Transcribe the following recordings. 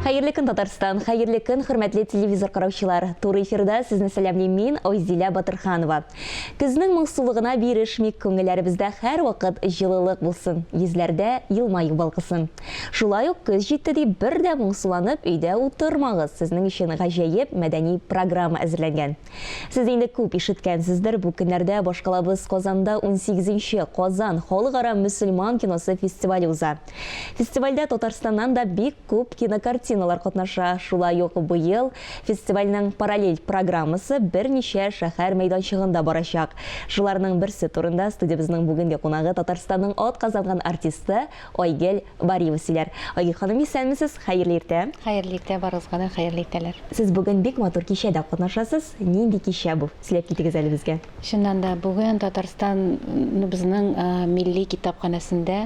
Хәерле көн Татарстан, хәерле көн хөрмәтле телевизор караучылар. Туры эфирда сезне сәламлим мин, Айзилә Батырханова. Көзнең моңсулыгына бирешмик, күңелләребездә һәрвакыт җылылык булсын, йөзләрдә елмаю балкысын. Шулай ук көз җитте дип бер дә моңсуланып өйдә утырмагыз, сезнең өчен гаҗәеп мәдәни программа әзерләнгән. Сез инде күп ишеткәнсездер, бу көннәрдә башкалабыз Казанда унсигезенче Казан халыкара мөселман киносы фестивале уза. Фестивальдә Татарстаннан да бик күп кинокартиналар катнаша. Шулай ук быел фестивальнең параллель программасы берничә шәһәр мәйданчыгында барачак. Шуларның берсе турында студиябезнең бүгенге кунагы Татарстанның атказанган артисты Айгөл Бариева сөйләр. Айгөл ханым, исәнмесез, хәерле иртә! Хәерле иртә, барыгызга да хәерле иртәләр! Сез бүген бик матур кичәдә катнашасыз. Нинди кичә бу? Сөйләп китегез әле безгә. Чыннан да, бүген Татарстаныбызның милли китапханәсендә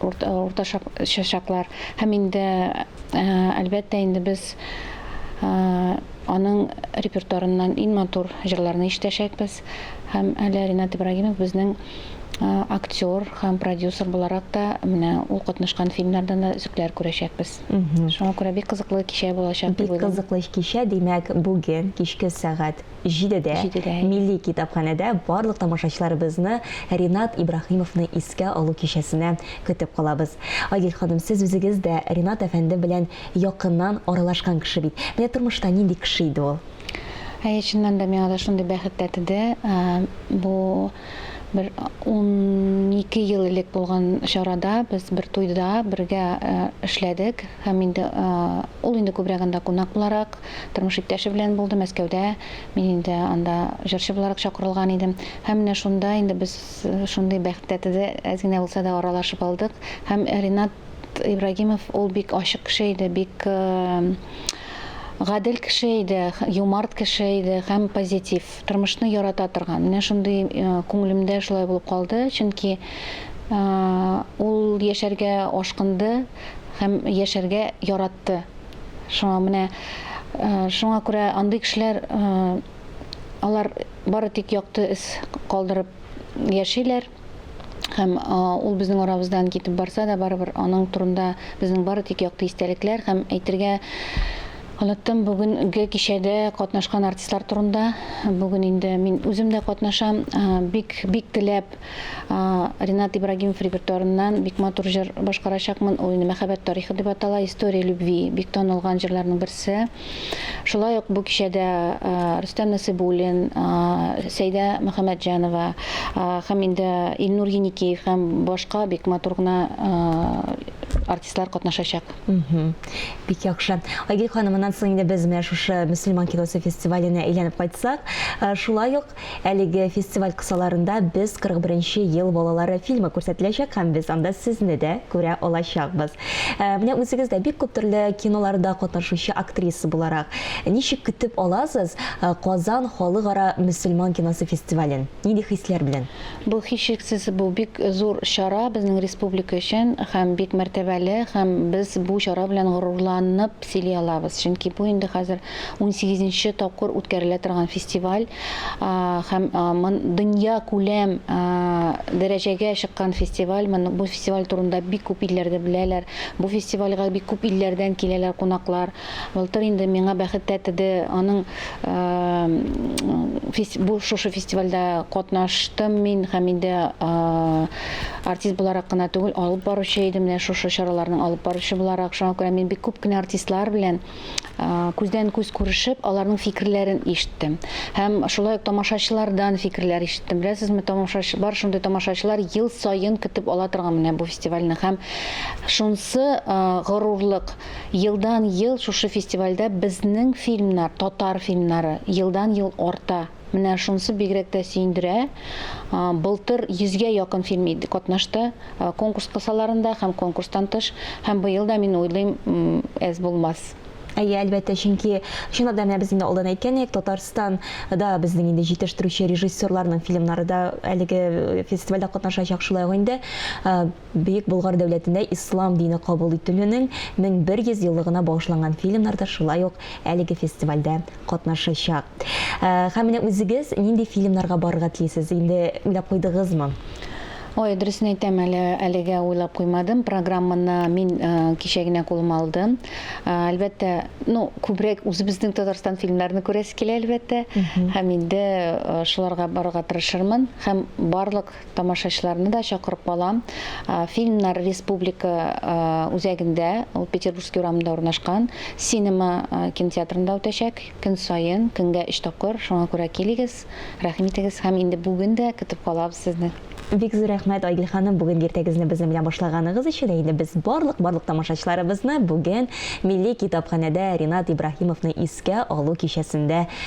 Уртача чаклар һәм инде, әлбәттә, инде без аның репертуарыннан иң матур җырларны ишетәчәкбез. Һәм әле Ринат Ибрагимов безнең актер һәм продюсер буларак та, менә ул катнашкан фильмнардан да өзекләр күрәчәкбез. Шуңа күрә бик кызыклы кичә булачак дип уйлыйм. Бик кызыклы кичә, димәк, бүген кичке сәгать. җидедә, җидедә Милли китапханәдә барлык тамашачыларыбызны Ринат Ибраһимовны искә алу кичәсенә көтеп калабыз. Айгөл ханым, сез үзегез дә Ринат әфәнде белән якыннан аралашкан кеше бит. Менә тормышта нинди кеше иде ул? Әйе, чыннан да миңа да шундый бәхет тәтеде. Бу бер унике ел элек булган чарада, без бер туйда бергә эшләдек һәм инде ул инде күбрәк анда кунак буларак, Тормыш иптәше белән булды Мәскәүдә, мин инде анда җырчы буларак чакырылган идем. Һәм менә шунда инде без шундый бәхет тәтеде әз генә булса да аралашып алдык. Һәм Ринат Ибрагимов ул бик ачык кеше иде, бик гадел кеше иде, юмарт кеше иде һәм позитив, тормышны ярата торган. Менә шундый күңелемдә шулай булып калды, чөнки ул яшәргә ашкынды һәм яшәргә яратты. Шуңа менә шуңа күрә андый кешеләр алар бары тик якты эз калдырып яшиләр һәм ул безнең арабыздан китеп барса да барыбер аның турында безнең бары тик якты истәлекләр һәм әйтергә Оныттым бүгенге кичәдә катнашкан артистлар турында. Бүген инде мин үзем дә катнашам. Бик бик теләп Ренат Ибрагимов репертуарыннан бик матур җыр башкарачакмын. Ул инде мәхәббәт тарихы дип атала, история любви бик танылган җырларның берсе. Шулай ук бу кичәдә Рөстәм Насыйбуллин, Сәйдә Мөхәммәтҗанова һәм инде Илнур Еникеев һәм башка бик матур гына артистлар катнашачак. Бик яхшы. Айгөл ханым, моннан соң инде без менә шушы мөселман киносы фестиваленә әйләнеп кайтсак, шулай ук Әлеге фестиваль кысаларында Без 41 нче ел балалары фильмы күрсәтеләчәк һәм без анда сезне дә күрә алачакбыз. Менә үзегез дә бик күп төрле киноларда катнашучы актриса буларак, ничек көтеп аласыз Казан халыкара мөселман киносы фестивален? Нинди хисләр белән? Бу, һичшиксез, бу бик зур чара безнең республика өчен һәм бик мәртәбәле, һәм без бу чара белән горурланып, сөйли алабыз, чөнки бу инде хәзер унсигез нче тапкыр үткәрелә торган фестиваль һәм дөньякүләм дәрәҗәгә чыккан фестиваль, бу фестиваль турында бик күп илләрдә беләләр, бу фестивальгә бик күп илләрдән киләләр кунаклар, былтыр инде миңа бәхет тәтеде, аның шушы фестивальдә катнаштым мин һәм инде. Артист буларак кына түгел, алып баручы идем, менә шушы чараларның алып баручы буларак. Шуңа күрә мин бик күп кенә артистлар белән күздән-күз күрешеп, аларның фикерләрен ишеттем. Һәм шулай ук тамашачылардан фикерләр ишеттем. Беләсезме, тамашачы, бар шундый тамашачылар ел саен көтеп ала торган менә бу фестивальне. Һәм шунсы горурлык, елдан-ел шушы фестивальдә безнең фильмнар, татар фильмнары елдан-ел арта. Менә шунысы бигрәк тә сөендерә. Былтыр йөзгә якын фильм катнашты конкурс кысаларында һәм конкурстан тыш. Һәм быел да, мин уйлыйм, әз булмас. Әйе, әлбәттә, чөнки, чынлап та, менә без инде алдан әйткән идек, Татарстан да безнең инде җитештерүче режиссерларның фильмнары да әлеге фестивальдә катнашачак, шулай ук инде. Бөек Болгар дәүләтендә ислам дине кабул ителүнең 1100 еллыгына багышланган фильмнар да шулай ук әлеге фестивальдә катнашачак. Һәм менә үзегез нинди фильмнарга барырга телисез, инде уйлап куйдыгызмы? Ой, дөресен әйтәм, әле әлегә уйлап куймадым. Программаны мин кичә генә кулыма алдым. Әлбәттә, ну, күбрәк үзебезнең Татарстан фильмнарын күрәсе килә, әлбәттә. Һәм инде шуларга барырга тырышырмын. Һәм барлык Тамашачыларны да чакырып калам. Фильмнар республика үзәгендә, ул Петербургский урамында урнашкан, Синема кинотеатрында үтәчәк. Көн саен, көнгә өч тапкыр, шуңа күрә килегез, рәхим итегез һәм инде бүген дә көтеп калабыз сезне. Бик зур рәхмәт, Айгөл ханым, бүген иртәгезне безнең белән башлаганыгыз өчен. Ә инде без барлык барлык тамашачыларыбызны бүген Милли китапханәдә Ринат Ибраһимовны искә алу кичәсендә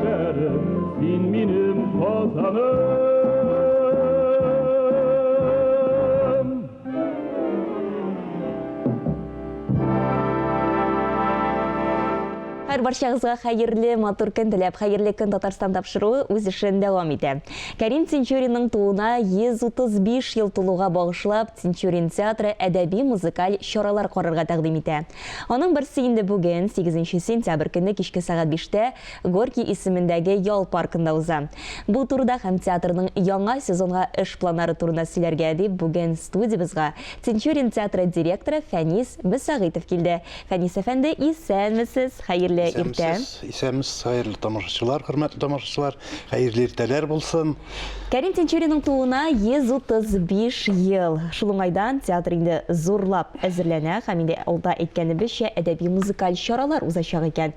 Шәрем, син минем казаным. Һәр барчагызга хәерле матур көн теләп, хәерле көн Татарстан тапшыруы үз эшен дәвам итә. Кәрим Тинчуринның тууына 135 ел тулуга багышлап, Тинчурин театры әдәби музыкаль чаралар карарга тәкъдим итә. Аның берсе инде бүген, 8 сентябрь көнне кичке сәгать 5-тә Горький исемендәге ял паркында уза. Бу турыда һәм театрның яңа сезонга эш планнары турында сөйләргә дип бүген студиябезга Тинчурин театры директоры Фәнис Мөсәгыйтов килде. Фәнис әфәнде, исәнмесез! Хәерле иртә! Исәнмесез, исәнмесез, хәерле тамашачылар, хөрмәтле тамашачылар, хәерле иртәләр булсын! Кәрим Тинчуринның тууына 135 ел. Шул уңайдан театр инде зурлап әзерләнә һәм инде алда әйткәнебезчә, әдәби-музыкаль чаралар узачак икән.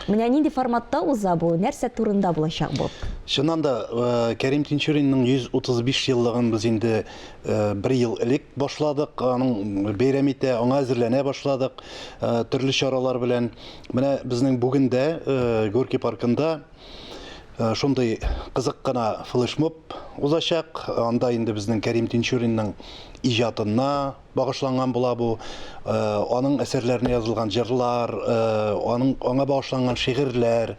Менә нинди форматта уза бу, нәрсә турында булачак бу? Чыннан да, э, Кәрим Тинчуринның 135 еллыгын без инде э, бер ел элек башладык, аның бәйрәм итә, аңа әзерләнә башладык э, төрле чаралар белән. Менә безнең бүген дә Горки паркында шундый кызык кына флешмоб узачак. Анда инде безнең Кәрим Тинчуринның иҗатына, багышланган була бу. Э, аның әсәрләренә язылган җырлар, э, аның аңа багышланган шигырьләр.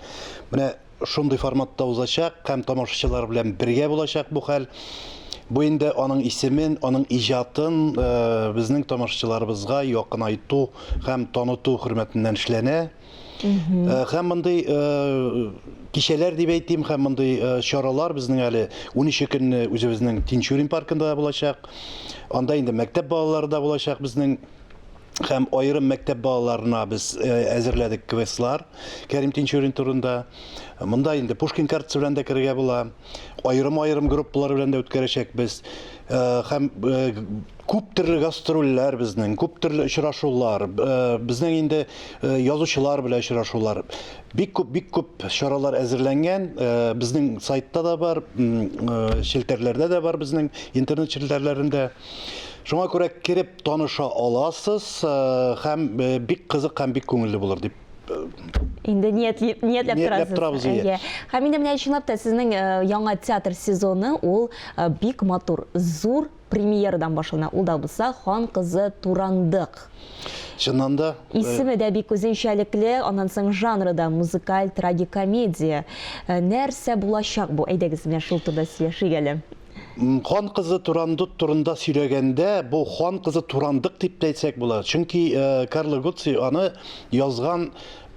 Менә шундый форматта узачак һәм тамашачылар белән бергә булачак бу хәл. Бу инде аның исемен, аның иҗатын э, безнең тамашачыларыбызга якынайту һәм таныту хөрмәтеннән эшләнә. Э, һәм мондый э, кичәләр дип әйтим һәм мондый э, чаралар безнең әле 13 көнне үзебезнең Тинчурин паркында да булачак. Анда инде мәктәп балалары да булачак безнең һәм аерым мәктәп балаларына без әзерләдек квестлар Кәрим Тинчурин турында. Монда инде Пушкин картасы белән дә керергә була. Аерым-аерым группалар белән дә үткәрәчәкбез. һәм күп төрле гастрольләр безнең, күп төрле очрашулар, безнең инде язучылар белән очрашулар. Бик күп, бик күп чаралар әзерләнгән. Безнең сайтта да бар, челтәрләрдә дә бар безнең интернет челтәрләрендә. Шуңа күрә кереп таныша аласыз һәм бик кызык һәм бик күңелле булыр дип инде ниятли, ниятләп торасыз. Торабыз, иә. Һәм инде менә чынлап та сезнең яңа театр сезоны ул бик матур, зур премьерадан башлана. Ул да булса Хан кызы Турандык. Чыннан да исеме дә бик үзенчәлекле, аннан соң жанры да музыкаль трагикомедия. Нәрсә булачак бу? Әйдәгез менә шул турыда сөйләшик әле. Хан кызы Турандут турында сөйләгәндә, бу хан кызы Турандык дип тә әйтсәк була. Чөнки Карло Гуци аны язган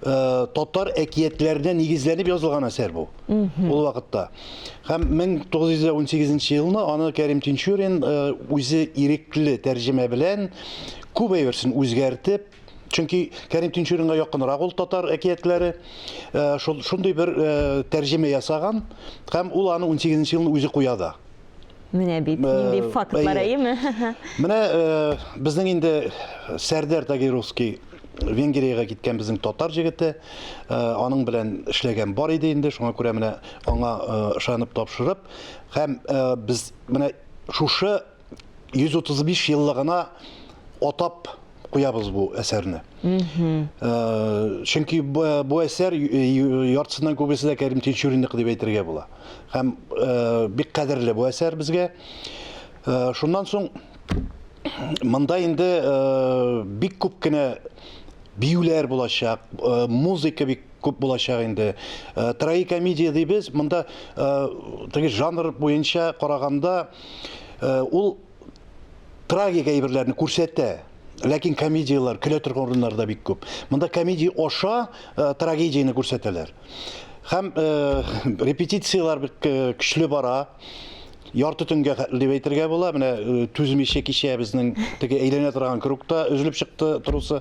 Э, татар әкиятләренә нигезләнеп язылган әсәр бу ул вакытта һәм 1918 елны аны кәрим тинчурин э, үзе ирекле тәрҗемә белән күп әйберсен үзгәртеп Чөнки Кәрим Тинчуринга якынрак ул татар әкиятләре. Шул шундый бер тәрҗемә ясаган һәм ул аны 18 нче елны үзе куя да. Менә бит, нинди фактлар, әйеме? Менә безнең инде Сәрдәр Тагировский Венгриягә киткән безнең татар җегете, аның белән эшләгән бар иде инде, шуңа күрә менә аңа ышанып тапшырып, һәм без менә шушы 135 еллыгына атап куябыз бу әсәрне. Э, чөнки бу, бу әсәр яртысыннан күбесе дә Кәрим Тинчуринныкы дип әйтергә була. Һәм э, бик кадерле бу әсәр безгә. Э, шуннан соң монда инде бик күп кенә биюләр булачак, музыка бик күп булачак инде. Трагикомедия дибез, монда теге жанр буенча караганда Ул трагик әйберләрне күрсәтә, ләкин комедияләр, көлә торган урыннар да бик күп. Монда комедия аша э, трагедияне күрсәтәләр. Һәм э, репетицияләр бик э, көчле бара. Ярты төнгә дип әйтергә була. Менә э, түзмичә кичә безнең теге әйләнә торган кругта өзелеп чыкты трусы.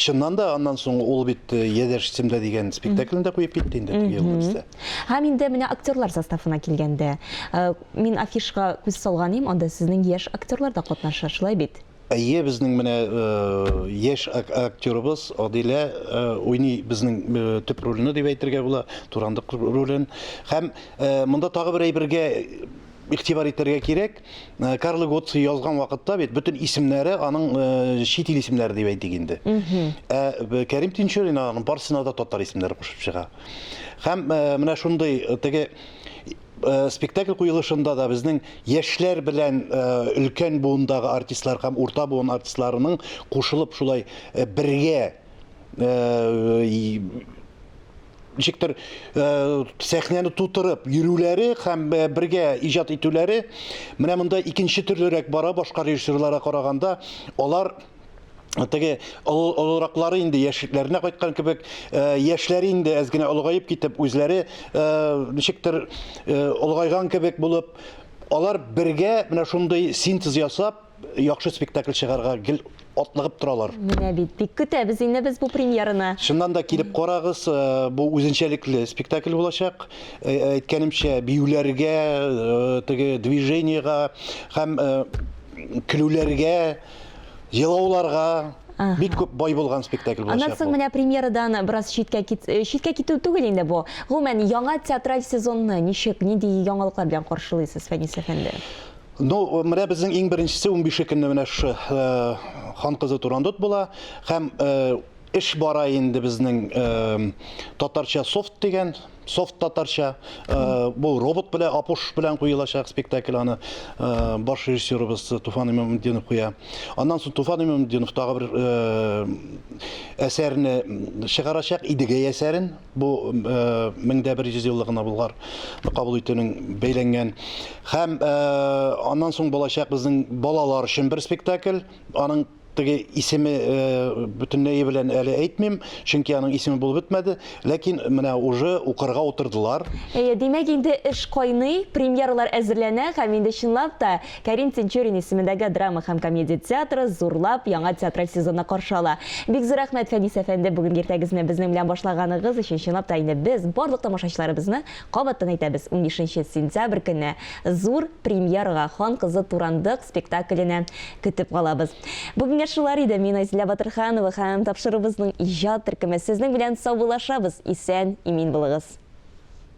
Чыннан да аннан соң ул бит э, Ядәш Семда дигән спектаклен дә куеп китте инде теге елны бездә. Һәм инде менә актерлар составына килгәндә, э, мин афишга күз салган идем, анда сезнең яшь актерлар да катнаша, шулай бит? Әйе, безнең менә э, яшь ак- актерыбыз Адилә э, уйный безнең э, төп рольне дип әйтергә була, Турандык ролен. Һәм э, монда тагы бер әйбергә игътибар итәргә кирәк, э, Карло Готци язган вакытта бит бөтен исемнәре аның э, чит ил исемнәре дип әйтик инде. Ә э, Кәрим Тинчурин аның барсына да татар исемнәре кушып чыга. Һәм э, менә шундый э, теге э, спектакль куелышында да безнең яшьләр белән э, өлкән буындагы артистлар һәм урта буын артистларының кушылып шулай э, бергә э, и- ничектер э, сәхнәне тутырып йөрүләре һәм э, бергә иҗат итүләре менә монда икенче төрлерәк бара башка режиссерларга караганда алар теге олыраклары инде яшьлекләренә кайткан кебек э, яшьләре инде әз генә олыгаеп китеп үзләре э, ничектер э, олыгайган кебек булып алар бергә менә шундый синтез ясап яхшы спектакль чыгарга гел атлыгып торалар. Менә бит, бик көтәбез инде без бу премьераны. Чыннан да килеп карагыз, э, бу үзенчәлекле спектакль булачак. Э, әйткәнемчә, биюләргә, э, теге движениега һәм көлүләргә, елауларга бик күп бай булган спектакль булачак. Аннан соң менә премьерадан бераз читкә читкә китү түгел инде бу. Гомумән, яңа театраль сезонны ничек, нинди яңалыклар белән каршылыйсыз, Фәнис әфәнде? Ну, менә безнең иң беренчесе 15 көнне менә шу э, хан кызы Турандот була һәм э, эш бара инде безнең э, татарча софт дигән софт татарча бу робот белән апуш белән куелачак спектакль аны баш режиссерыбыз Туфан Имамутдинов куя. Аннан соң Туфан Имамутдинов тагы бер әсәрне чыгарачак Идегәй әсәрен. бу мең дә бер йөз еллыгына Болгар кабул итүнең бәйләнгән. Һәм аннан соң булачак безнең балалар өчен бер спектакль. Аның теге исеме бөтенләй белән әле әйтмим, чөнки аның исеме булып бетмәде, ләкин менә уже укырга утырдылар. Әйе, димәк инде эш кайный, премьералар әзерләнә һәм инде чынлап та Кәрим Тинчурин исемендәге драма һәм комедия театры зурлап яңа театраль сезонны каршы ала. Бик зур рәхмәт, Фәнис әфәнде, бүгенге иртәгезне безнең белән башлаганыгыз өчен. Чынлап та инде без барлык тамашачыларыбызны кабаттан әйтәбез, унбишенче сентябрь көнне зур премьерага, Хан кызы Турандык спектакленә көтеп калабыз. Бүгенгә шулар иде, мин Айзилә Батырханова һәм тапшыруыбызның иҗат төркеме сезнең белән саубуллашабыз, исән, имин булыгыз.